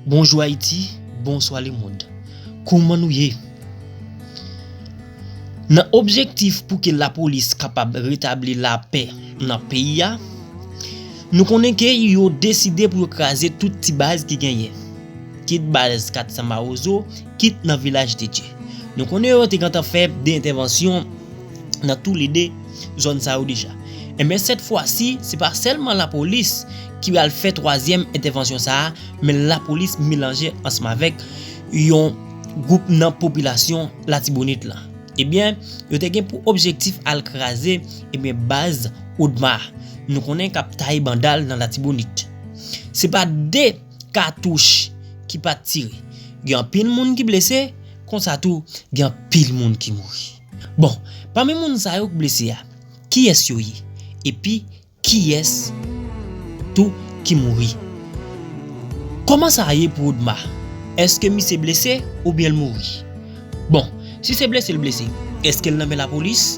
Bonjou Ayiti, bonswa lemond. Kouman nou ye? Nan objektif pou ke lapolis kapab retabli lapè nan peyi a, nou konnen ke yo deside pou yo kraze tout ti baz ki genyen. Kit baz 400 mawozo, kit nan Vilaj de Dye. Nou konnen yo te gentan fè 2 entèvansyon nan tou le 2 zòn sa yo deja. Enben sèt fwa si, se pa sèlman lapolis. ki pral fè twazyèm entèvansyon sa a, men lapolis melanje ansanmavèk yon gwoup nan popilasyon latibonit lan. Ebyen, yo te gen pou objektif al kraze, ebyen baz Odma, nou konnen kap taye banda l nan latibonit. Se pa 2 katouch ki pat tire, gen anpil moun ki blese, konsa tou gen anpil moun ki mouri. Bon, pami moun sa yo k blese a, kiyès yo ye? Epi, Kiyes tou ki mouri? Koman sa ye pou Odma? Eske misye blese oubyen l mouri? Bon, si se blese l blese, eske l nan men lapolis?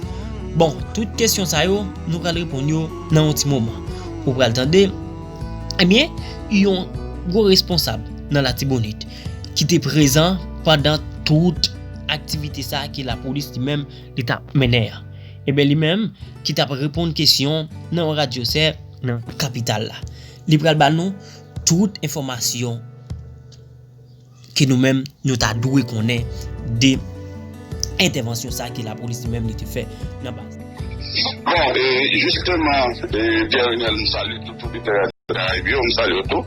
Bon, tout kesyon sa yo, nou pral reponn yo nan yon ti moman. Ou pral tande, ebyen, yon gwo responsab nan Latibonit ki te prezan pandan tout aktivite sa ke lapolis li menm li t ap mennen an. Enben li menm ki t ap reponn kesyon nan yon radyo sè nan kapital la. Li pral ba nou tout enfòmasyon ke nou menm nou ta dwe konnen de entèvansyon sa ke lapolis li menm li te fè nan baz la. Bon, e jisteman Pierre Renel m salye tout oditè radyo Karayib yo, m salye w tou.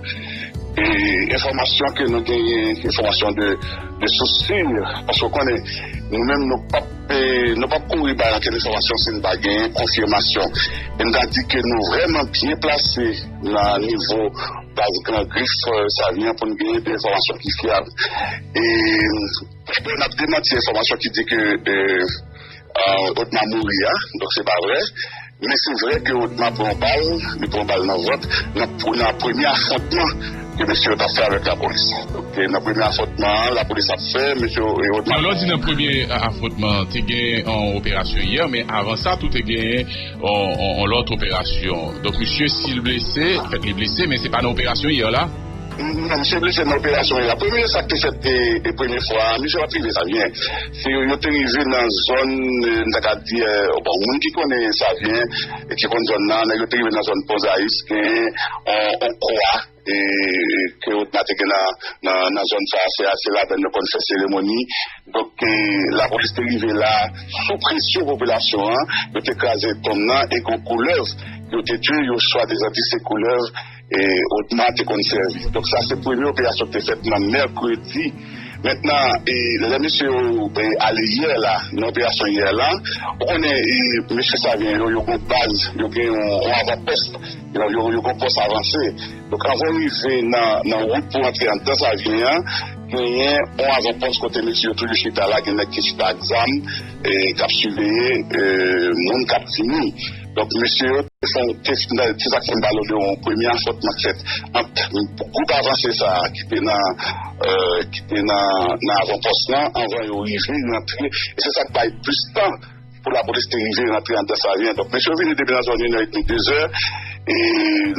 E enfòmasyon ke nou genyen, enfòmasyon de sous sur, paske w konnen nou menm nou p ap. Nou pap kouri bay ankenn enfòmasyon si n pa genyen konfimasyon. E m ta di ke nou vrèman byen plase nan nivo baz Gran Grif Savyen pou n genyen de enfòmasyon ki fyab. E n ap demanti enfòmasyon ki di ke Odma mouri a, donk se pa vrè. Men se vre ke Otma pran yon bal, li pran bal nan vant nan premye afwontman ke mesye yo t ap fè avèk lapolis. Se nan premye afwontman an lapolis ap fè mesye Otma. Alò di nan premye afwontman an te gen yon operasyon yè men avan sa tou te gen yon lòt operasyon. Donk misye si l blese, fèt li blese men se pa nan operasyon yè la? Misye blese nan operasyon ya premye sak te fèt e premye fwa misye pat rive savyen se yo yo te rive nan zòn m ta ka di bon moun ki konnen savyen ki konn zòn nan nèg yo te rive nan zòn pon zayis gen on kwa e ke otma te gen nan nan zòn sa se a se ladann yo konn fè seremoni donk lapolis te rive la sou presyon popilasyon an yo te kraze tonm nan e gon koulèv yo te di yo swadizan di se koulèv Otma te konn sèvi. Donk sa se premye operasyon ki te fèt nan mèkredi. Mentnan lè mesye yo ale yè la nan operasyon yè la, ou konnen mesye savyen yo, yo gon baz, yo gen yon avanpòst, yo gon pòs avanse. Donk anvan ou rive nan wout pou antre anndan savyen an, genyen yon avanpòs kote mesye yo toujou chita la, gen nèg ki chita ak zam k ap siveye moun k ap vini. Donk mesye yo te fon te se sak fèm pale w de yon premye afwontman k fèt ant gwoup avanse sa ki te nan ki te nan nan avanpòs lan anvan yo rive rantre e se sak bay plis tan pou lapolis te rive rantre andan savyen donk mesye yo vini depi nan zòn inè edmi dezè e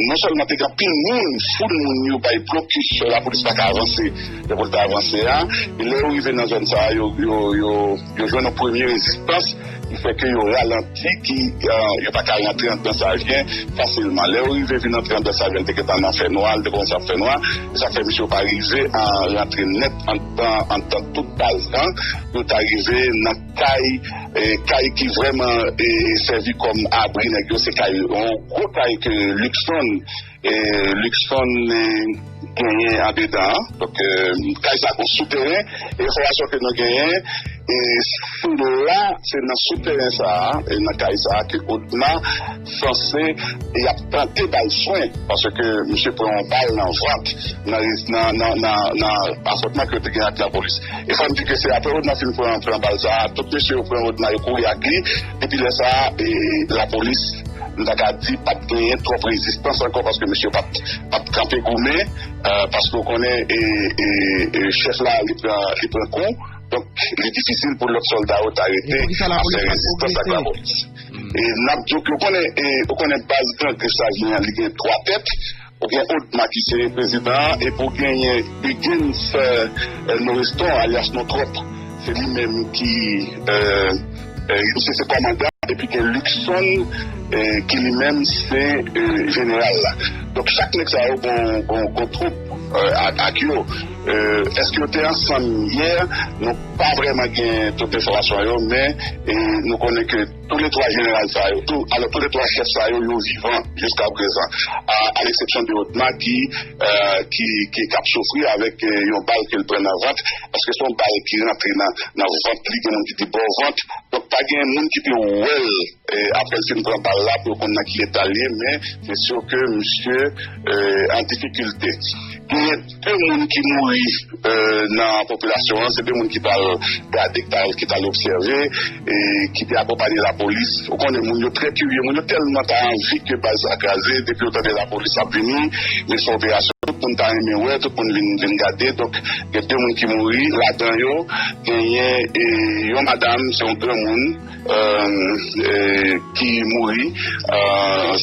non sèlman te gen anpil moun foul moun yo bay blokis lapolis paka avanse jan pou l ta avanse a e lè yo rive nan zòn sa yo yo. Yo jwenn yon premye rezistans ki fè ke yo ralanti, ki yo pa ka rantre andan Savyen fasilman. Lè yo rive vin antre andan Savyen, li te gentan nan fè nwa, li te kòmanse ap fè nwa, se sa k fè misye yo pa rive rantre nèt andan, andan tout baz lan, pou yo ta rive nan kay, kay ki vrèman sèvi kòm abri nèg yo, se kay, yon gwo kay ke Luckson. Luxfun genyen andedan an. Donk kay sa gon sou teren e enfòmasyon ke nou genyen se la se nan sou teren sa nan kay sa ke Odma sanse yap tante bal swen paske misye pran yon bal nan vant nan afwontman ke yo te gen ak lapolis e fòm di ke se aprè Odma fin pran bal sa tout mesye yo pran Odma yo kouri ak li. Depi lè sa a, lapolis, m ta ka di, pa t genyen twòp rezistans ankò paske misye yo pa t kanpe goumen paske ou konnen chèf la li pran kou. Donk, li difisil pou lòt sòlda yo ta rete ap fè rezistans ak lapolis. N ap di w ke ou konnen baz Gran Grif sa a genyen an, li gen twa tèt. Ou gen Odma ki se prezidan an epi ou genyen Huguens Noreston alyas Nontròp se li menm ki misye se kòmandan epi gen Luckson ki li menm se jeneral la donk chak nèg sa yo gon twoup ak yo èske yo te ansanm yè nou pa vrèman gen tout enfòmasyon yo men nou konnen ke Tou le 3 jeneral sa yo, alò tou le 3 chèf sa yo, yo vivan jiska prezan, a leksepsyon de Otma ki ap soufri avèk yon bal ke l pran nan vant, paske se yon bal ki rantre nan vant li, gen moun ki di bò vant, donk pa gen moun ki te wè l aprè l fin pran bal la pou yo konn nan ki eta l ye, men se sur ke misye an difikilte. Pi moun ki mouri nan popilasyon an se te moun ki t al gade, ki t al obsève, ki te akonpanye lapolis. Ou konnen moun yo trè kirye, moun yo tèlman ta anvi ke baz la kraze, depi yo tande lapolis ap vini, vin fè operasyon, tout moun ta renmen wè, tout moun vin gade. Donk, gen 2 moun ki mouri, ladan yo genyen yon madam, se yon granmoun. ki mouri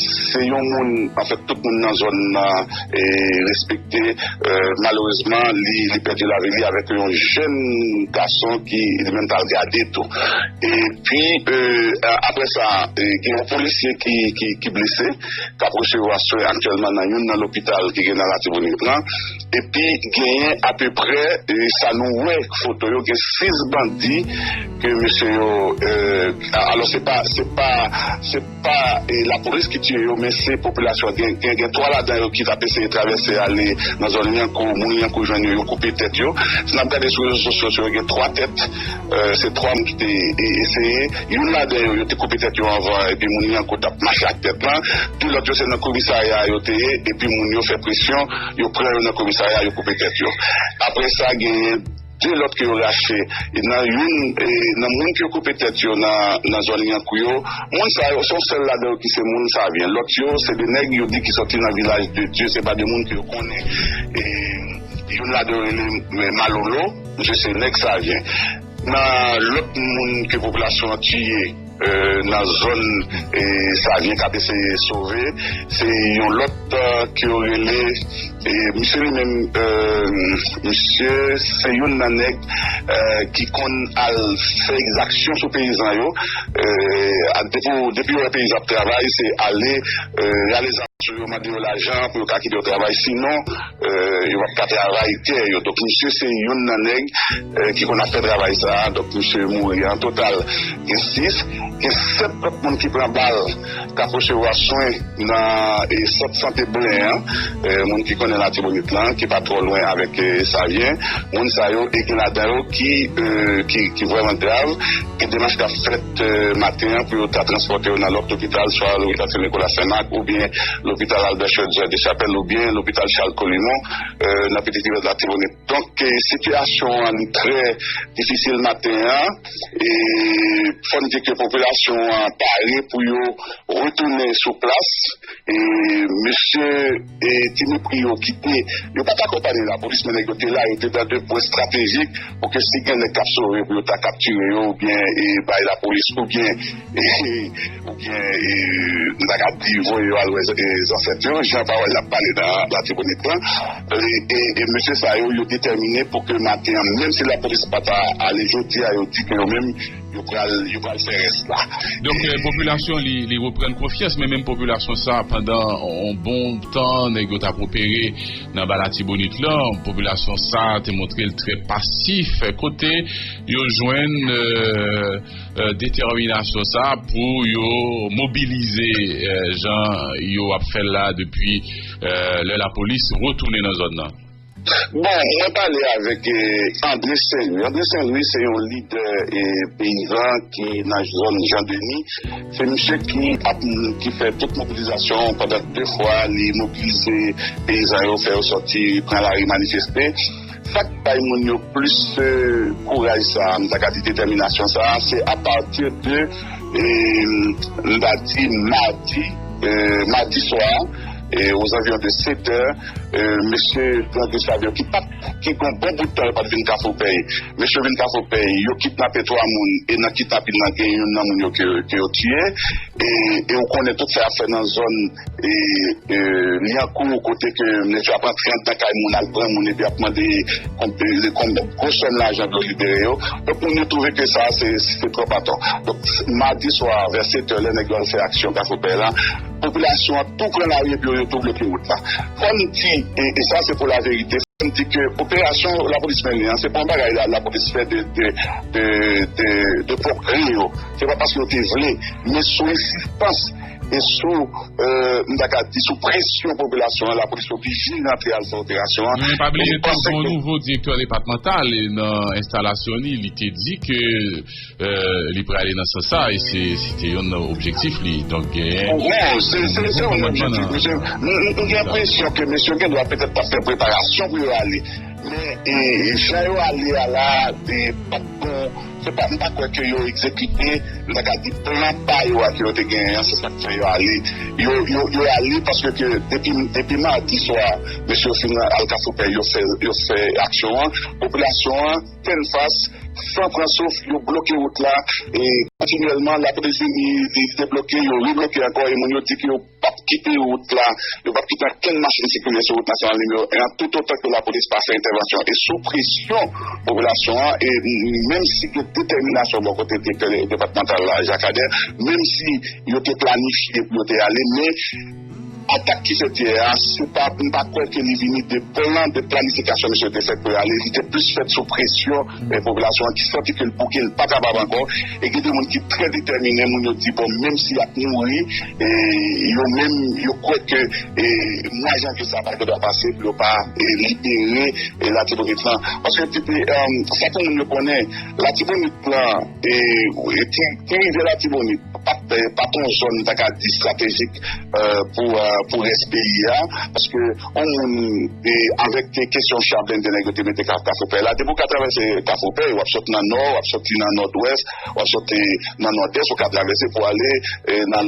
se yon moun anfèt tout moun nan zòn nan respekte malerezman li pèdi lavi li avèk yon jèn gason ki li menm tal gade tou epi aprè sa gen yon polisye ki blese kap resevwa swen aktyèlman nan youn nan lopital ki gen nan latibonit lan epi genyen apeprè sa nou wè foto yo gen 6 bandi. Ke mesye yo alò se pa se pa se pa lapolis ki tiye yo men se popilasyon an gen gen gen 3 ladan yo ki tap eseye travèse ale nan zòn lyankou moun lyankou jwenn yo yo koupe tèt yo si nap gade sou rezo sosyo yo gen 3 tèt se 3 moun ki te eseye youn ladan yo yo te koupe tèt yo anvan epi moun lyankou tap mache ak tèt lan 2 lòt yo se nan komisarya yo te ye epi moun yo fè presyon yo pran yo nan komisarya yo koupe tèt yo aprè sa genyen 2 lòt ke yo rache nan youn nan moun ke yo koupe tèt yo nan zòn Lyankou yo. Moun sa yo, se yon sèl ladan yo ki se moun Savyen. Lòt yo, se 2 nèg yo di ki sòti nan Vilaj de Dye. Se pa 2 moun ke yo konnen. Youn ladan yo rele Malolo, misye se nèg Savyen. Nan lòt moun ke popilasyon an tiye. nan zòn Savyen k ap eseye sove se yon lòt ke yo rele misye li menm misye se youn nan nèg ki konn al fè ekzaksyon sou peyizan yo depi yo wè peyizan ap travay se ale rale zam sou yo mande yo lajan pou yo ka kite yo travay sinon Yo pap ka travay tè yo. Donk misye se youn nan nèg ki konn ap fè travay sa a. Donk misye mouri. An total gen 6. Gen 7 lòt moun ki pran bal k ap resevwa swen nan sant sante Blen an. Moun ki konnen Latibonit lan ki pa twò lwen avèk Savyen. Moun sa yo e gen ladan yo ki vrèman grav. Gen demach k ap fèt. maten an pou yo ta transpòte yo nan lòt lopital, swa lopital Sen Nikola Sen Mak oubyen lopital Albè Chodiè Dechapèl oubyen lopital Chal Kolimon nan Piti Kivèz Latibonit. Donk sitiyasyon an li trè difisil maten an e fò n di ke popilasyon an pare pou yo retounen sou plas e mesye. Ti mepri yo kite yo pa t akonpanye lapolis men nèg yo te la, yo te nan de pwen estratejik pou ke si gen nèg k ap sove pou yo ta kaptire yo oubyen bay lapolis oubyen nou ta ka di voye yo al wè zansèt yo jan pawòl la pale nan Latibonit lan. E mesye sa yo, yo detèmine pou ke maten an menm si lapolis pa ta ale jodi a yo di ke yo menm Yo pral yo pral fè rès la. Donk popilasyon li reprann konfyans men menm popilasyon sa pandan yon bon tan nèg yo tap opere nan ba latibonit lan popilasyon sa te montre l trè pasif kote yo jwenn detèminasyon sa pou yo mobilize jan yo ap fè l la depi lè lapolis retounen nan zòn nan. Bon, mwen pale avèk André Saint Louis. André Saint Louis se yon lidè peyizan ki nan zòn Jean Denis. Se misye ki ap, ki fè tout mobilizasyon pandan 2 fwa li mobilize peyizan yo, fè yo sòti pran lari manifeste. Sa k bay moun yo plis kouraj sa a, m ta ka di detèminasyon sa a, se apati de, m ta di madi, madi swa. ozanviwon de 7 è, mesye pran 2 saviyò ki pat, ki gon bon bout tan yo pat vin Kafopèy. Mesye yo vin Kafopèy, yo kidnape 3 moun e nan kidnapin nan gen youn nan moun yo ke yo tiye e ou konnen tout sa y ap fè nan zòn Lyankou kote ke nèg yo ap antre anndan kay moun al pran moun epi y ap mande gwo sòm lajan pou yo libere yo. Donk moun yo twouve ke sa a se twòp atò. Donk madi swa vè 7 è lè nèg yo al fè aksyon Kafopèy la, Popilasyon an tou pran lari epi yo yo tou bloke wout la. Fò n di, e sa se pou laverite, fò n di ke operasyon lapolis mennen an, se pa yon bagay lapolis fè de pwòp gre yo, se pa paske yo te vle, men sou ensistans e sou, m ta ka di, sou presyon popilasyon an, lapolis te oblije rantre al fè operasyon an. Men pa bliye tou, gen yon nouvo direktè depatmantal e nan enstalasyon li, li te di ke Li prale nan sans sa a e se te youn nan objektif li. Donk genyen. Bon, se youn objektif. Mesye, m gen enpresyon ke mesye yo gen dwa petèt t ap fè preparasyon pou yo ale. Men, jan yo ale a la a, li pa t bon. Se pa, m pa kwè ke yo egzekite, m ta ka di, plan pa yo a ke yo te genyen an. Se sa k fè yo ale. Yo ale paske ke depi madi swa, mesye yo fin al Kafoupèy, yo fè aksyon an. Popilasyon an. Tenn fas, san pran souf, yo bloke wout la kontinyèlman. Lapolis vini, li debloke, yo rebloke ankò e moun yo di ke yo p ap kite wout la, yo p ap kite ankenn machin sikile sou wout nasyonal nimewo 1 an toutotan ke lapolis pa fè entèvansyon. E sou presyon popilasyon an e menmsi gen detèminasyon bò kote direktè depatmantal la, Jacques Ader, menmsi yo te planifye pou yo te ale men, Atak ki fèt yè a, se pa, m pa kwè ke li vini de plan de planifikasyon misye yo te fè pou yo ale, li te plis fèt sou presyon popilasyon an ki santi ke l bouke, l pa kapab ankò, e gen de moun ki trè detèmine, moun yo di bon menm si y ap mouri, yo menm yo kwè ke mwa janvye sa a pa gen dwa pase pou yo pa libere Latibonit lan. Paske sa pou moun yo konnen, Latibonit lan, e ti. Ti rivyè Latibonit pat yon zòn nou ta ka di estratejik pou rès peyi a paske yon moun avèk kesyon cha blende nèg yo te mete Kafoupèy la depi w ka travèse Kafoupèy w ap sot nan nò w ap soti nan nòdwès w ap soti nan nòdès ou ka travèse pou ale nan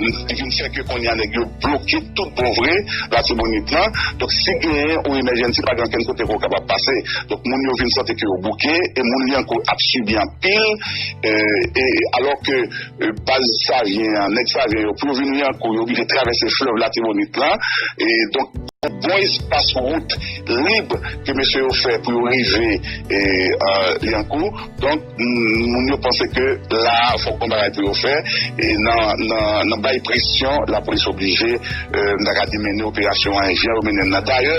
Li vin fè ke konnya nèg yo bloke tout bon vre Latibonit lan. Donk si genyen ou emèjènsi pa gen okenn kote ke ou kapab pase. Donk moun yo vin santi ke yo bouke e moun Lyankou ap sibi anpil e alò ke baz Savyen an, nèg Savyen yo pou yo vin Lyankou yo oblije travèse flèv Latibonit lan e donk yon bon espas wout lib ke mesye yo fè pou yo rive Lyankou. Donk. Moun yo panse ke la a fòk yon bagay pou yo fè e nan bay presyon lapolis oblije m ta ka di mennen operasyon an jan yo mennen l la. Dayè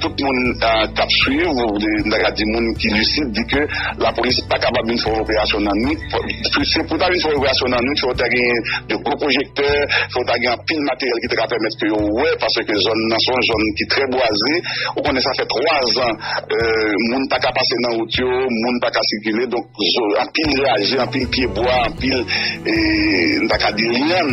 tout moun k ap swiv ou m ta ka di moun ki lisid di ke lapolis pa kapab vin fè yon operasyon nan nwit. Se pou yo ta vin fè yon operasyon nan nwit fòk ta gen de gwo pwojektè, fòk ta gen anpil materyèl ki ta ka pèmèt ke yo wè paske zòn nan se yon zòn ki trè bwaze. Ou konnen sa fè 3 zan moun pa ka pase nan wout yo, moun pa ka sikile. Donk, anpil raje, anpil pye bwa, anpil, m ta ka di lyann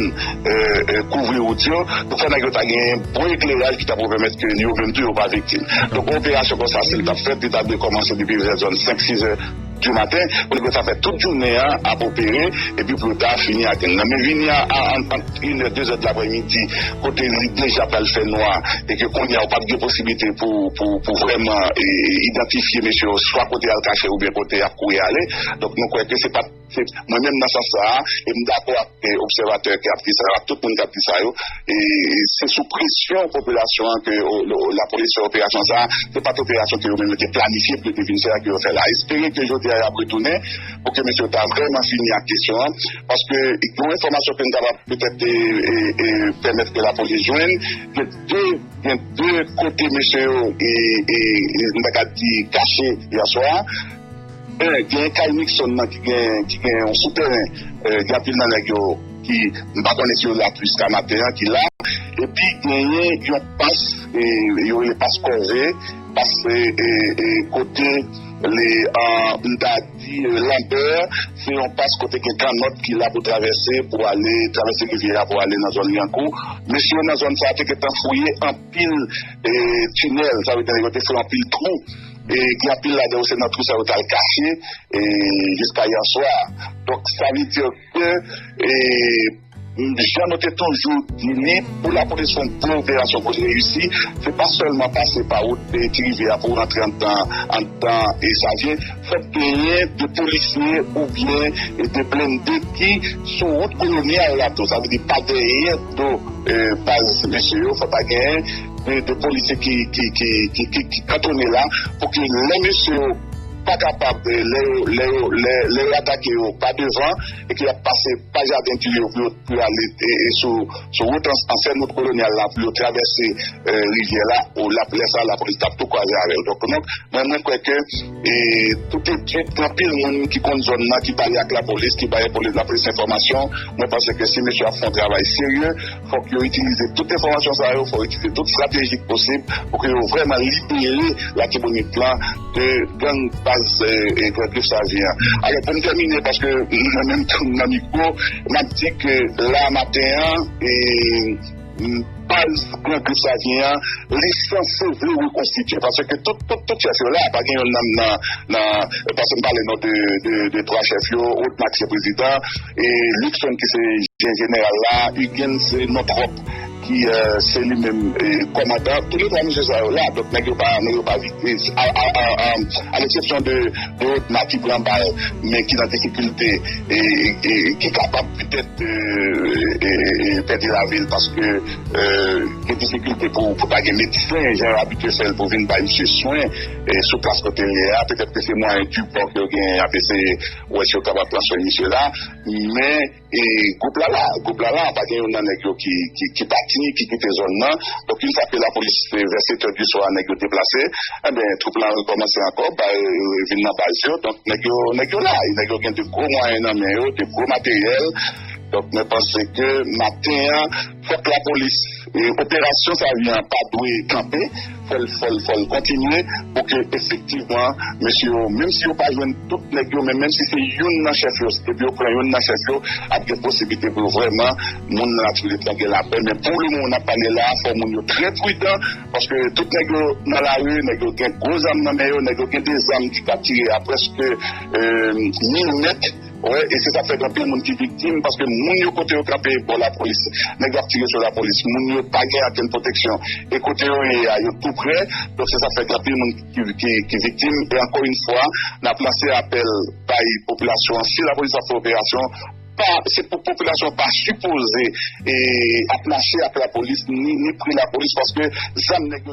kouvri wout yo. Donk, fò nèg yo ta genyen bon ekleraj ki ta pou pèmèt ke yo menm tou yo pa viktim. Donk, yon operasyon konsa, si l t ap fèt, li ta dwe kòmanse depi vè zòn 5, 6 zè. Djou maten, Poliglo ta fè tout jounen an ap opere epi pou yo ta fini ak l. Nan men vini a ant inè, dezè delaprè midi kote li deja pral fè nwa e ke kounye a ou pap gen posiblite pou vrèman idantifye mesye yo swa kote y al kache oubyen kote y ap kouri ale. Donk nou kwè ke se pa, mwen menm nan sans sa a e m dakò ak obsèvatè ki ap di sa yo ak tout moun k ap di sa yo, E se sou presyon popilasyon an ke lapolis fè operasyon sa a. Se pa t operasyon ke yo menm yo te planifye pou yo te vin fè a ke yo fè la. Espere ke jodi a y ap retounen pou ke mesye yo ta vrèman fini ak kesyon an. Paske yon enfòmasyon ke nou ta kapab petèt pèmèt ke lapolis jwenn, gen de gen de kote mesye yo, mwen ta ka di kache yèswa a. Gen kay Nixon nan ki gen yon soutèren, gen anpil nan nèg yo ki, m pa konnen si yo la jiska maten an, ki la. Epi genyen yon pas, yo rele pas kòve, pas kote le, m ta di lanbè, se yon pas kote gen kannòt ki la pou travèse, pou ale, travèse rivyè a pou ale nan zòn Lyankou. Mesye yo nan zòn sa a te gentan fouye anpil tinèl, sa vle di yo te fè anpil twou. Gen anpil ladan yo se nan twou sa yo t al kache jiska yè swa. Donk sa vle di ke jan nou te toujou di li, pou lapolis fè yon gwo operasyon pou l reyisi, se pa sèlman pase pa wout ti rivyè a pou w rantre anndan Savyen. Fòk genyen 2 polisye oubyen 2 blende ki sou wout kolonyal la tou. Sa vle di pa dèyè do baz mesye yo fòk ta genyen 2 polisye ki kantone la pou ke lè mesye yo pa kapab lè yo atake yo pa devan e ke yap pase pa jaden di yo pou yo ale sou wout ansèn wout kolonyal la pou yo travèse rivyè la ou lap lè sa lapolis tap tou kwaze avèl donk mwen kwè ke tout etid gen anpil moun ki konn zòn nan ki pale ak lapolis ki bay lapolis enfòmasyon mwen panse ke si mesye ap fè yon travay serye Fòk yo itilize tout enfòmasyon sa yo, fòk yo itilize tout strateji k posib pou ke yo vrèman libere Latibonit lan de gang baz Gran Grif Savyen an. Alò pou m tèmine, paske mwen menm tou m nan mikwo, m ap di ke la a maten an, baz Gran Grif Savyen an, li sanse vle rekonstitye, paske tout tout chèf yo la, pa gen youn nan, paske m pale non de 3 chèf yo, Otmak se prezidan, E Luckson ki se je jeneral la, Huguens se non twòp ki se li menm kòmandan. Tou le twa mesye sa yo la, donk nèg yo pa nèg yo pa vit, a leksepsyon de Rodna ki pran bal men ki nan difikilte e ki kapab petèt pèdi lavi l paske gen difikilte pou ta gen medsen jan yo abitye fè l pou vin bay misye swen sou plas kote l ye a. Petèt ke se mwayen Dupò ke yo genyen y ap eseye. Ou wè si yo kapab transfere misye la. Men gwoup la la. Gwoup la la. Pa gen youn nan nèg yo ki pati, ki kite zòn nan. Donk youn fwa ke lapolis te vè setè di swa nèg yo deplase, enben twoup la rekòmanse ankò bay vin nan baz yo. Donk nèg yo, nèg yo la. E nèg yo gen de gwo mwayen nan men yo, de gwo materyèl. Donk mwen panse ke maten an. Fòk la polis operasyon sa vyen an pa dwe kanpe fòl fòl fòl kontinye pou ke efektivman mesye yo menm si yo pa jwenn tout nèg yo men menm si se youn nan chèf yo epi yo pran youn nan chèf yo ap gen posiblite pou yo vrèman moun nan latibonit lan gen lapè men pou le moman nap pale la fò moun yo trè pridan paske tout nèg yo nan lari nèg yo gen gwo zam nan men yo nèg yo gen de zam ki ka tire a prèske mil mèt. Wè e se sak fè gen anpil moun ki viktim paske moun yo kote yo kanpe bò lapolis nèg yo ap tire sou lapolis moun yo pa gen ankenn pwoteksyon e kote yo ye a yo tou prè donk se sak fè gen anpil moun ki viktim e ankò yn fwa nap lanse apèl bay popilasyon an si lapolis ap fè operasyon pa se pou popilasyon an pa sipoze e ap mache ak lapolis ni ni pre lapolis paske zam nèg yo.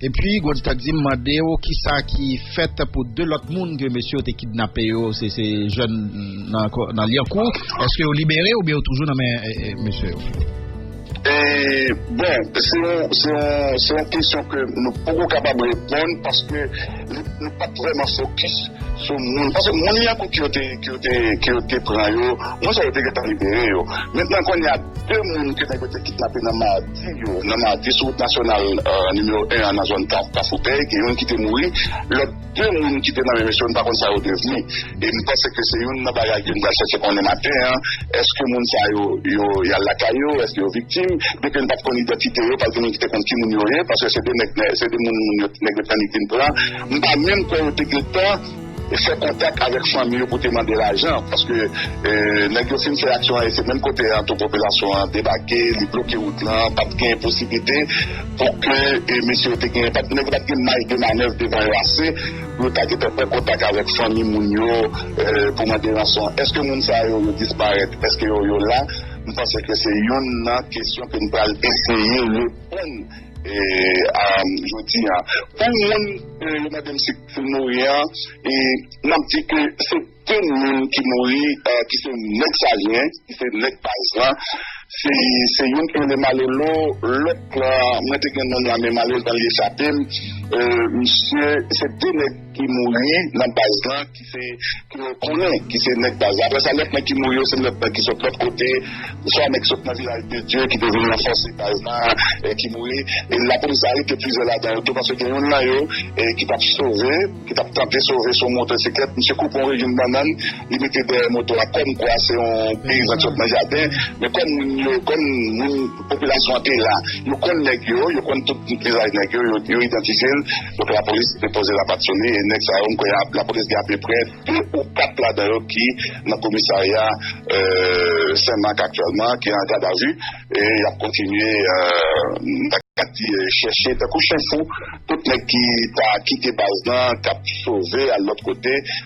Epi Goldstack di m mande w kisa ki fèt pou 2 lòt moun ke mesye yo te kidnape yo, se se jèn nan Lyankou, eske yo libere oubyen yo toujou nan men mesye yo? Bon, se yon kesyon ke nou poko kapab reponn paske nou pat vrèman fokis sou moun, paske moun Lyankou ke yo te pran yo, moun sa yo te gentan libere yo. Mentnan kounye a 2 moun ke nèg yo te kidnape nan. Nèg yo nan Mati sou wout nasyonal nimewo 1 an nan zòn Kafou Pèy gen youn ki te mouri, lòt 2 moun ki te nan men mesye yo n pa konn sa yo devni e m panse ke se youn nan bagay ke n pral chèche konnen maten an, èske moun sa yo yo y al lakay yo, èske yo viktim, byen ke n pa t konn idantite yo pa t gen moun ki te konn ki moun yo ye paske se 2 nèg se 2 moun moun yo nèg yo t annik vin pran m pa menm kwè yo te gentan. fè kontak avèk fanmi yo pou te mande lajan paske nèg yo fin fè aksyon an e se menm kote an tou popilasyon an debake li bloke wout lan pat gen posiblite pou ke mesye yo te gen nèg yo pat gen maj de manèv devan yo ase pou yo ta gentan pran kontak avèk fanmi moun yo pou mande ranson èske moun sa yo yo disparèt èske yo yo la m panse ke se youn nan kesyon ke nou pral eseye reponn jodi an pou moun yo mande m si. Foul mouri an e nap di ke se 2 moun ki mouri ki se nèg Salyen ki se nèg baz lan se youn ki rele Malolo lòt lan mwen te gen nonm la men malerezman li echape m misye se 2 nèg ki mouri nan baz lan ki se ke yo konnen ki se nèg baz la, aprè sa lòt nèg ki mouri yo se lòt nèg ki sot lòt kote, swa nèg ki sot nan Vilaj de Dye ki te vin ranfòse baz la e ki mouri, e lapolis arete plizyè ladan yo tou paske gen youn nan yo ki tap sove, ki tap tante sove sou motosiklèt, misye koupe yon rejim bannann li mete dèyè moto a kòm kwa se yon peyizan ki sot nan jaden, men kòm moun yo, kòm moun popilasyon an te la, yo konn nèg yo, yo konn tout vizaj nèg yo, yo idantifye l. Donk lapolis depoze lapat sou li e nèg sa yo m kwè lapolis gen apeprè 2 ou 4 ladan yo ki nan komisarya Senmak aktyèlman ki an gadavi e y ap kontinye m ta ka di chèche tankou chen fou tout nèg ki ta kite baz lan k ap sove al lòt kote.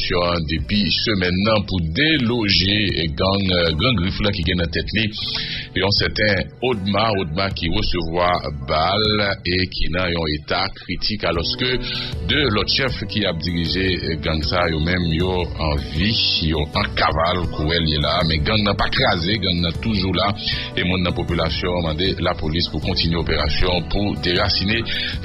Sitiyasyon an depi semèn nan pou deloje gang Gran Grif la ki gen nan tèt li yon sèten Odma Odma ki resevwa bal e ki nan yon eta kritik alòske 2 lòt chèf ki ap dirije gang sa yo menm yo anvi, yo an kaval kouwè l ye la a. Men gang nan pa kraze, gang nan toujou la e moun nan popilasyon an mande lapolis pou kontinye operasyon pou derasine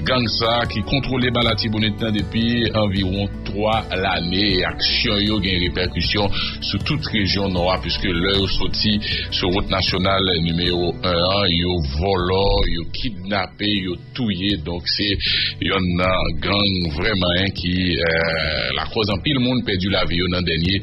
gang sa ki kontwole ba Latibonit nan depi anviwon. 3 lane e aksyon yo gen repèkisyon sou tout rejyon Nò a piske lè yo soti sou wout nasyonal nimewo 1 an yo vòlò, yo kidnape, yo touye donk se yonn nan gang vrèman 1 ki lakòz anpil moun pèdi lavi yo nan dènye.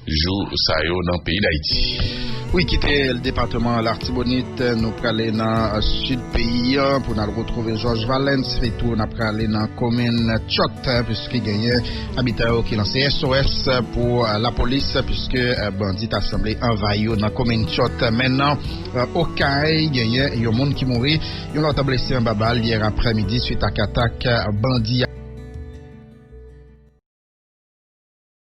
jou sa yo nan peyi Dayiti. Wi kite depateman lartibonit nou prale nan sid peyi an pou nal retrouve jòj valens sitou nap prale nan komin tchòt piske genyen abitan yo ki lanse SOS pou lapolis piske bandi ta sanble anvayi yo nan komin tchòt men nan okay genyen yon moun ki mouri yon lòt blese anba bal yè aprè midi swit ak atak bandi.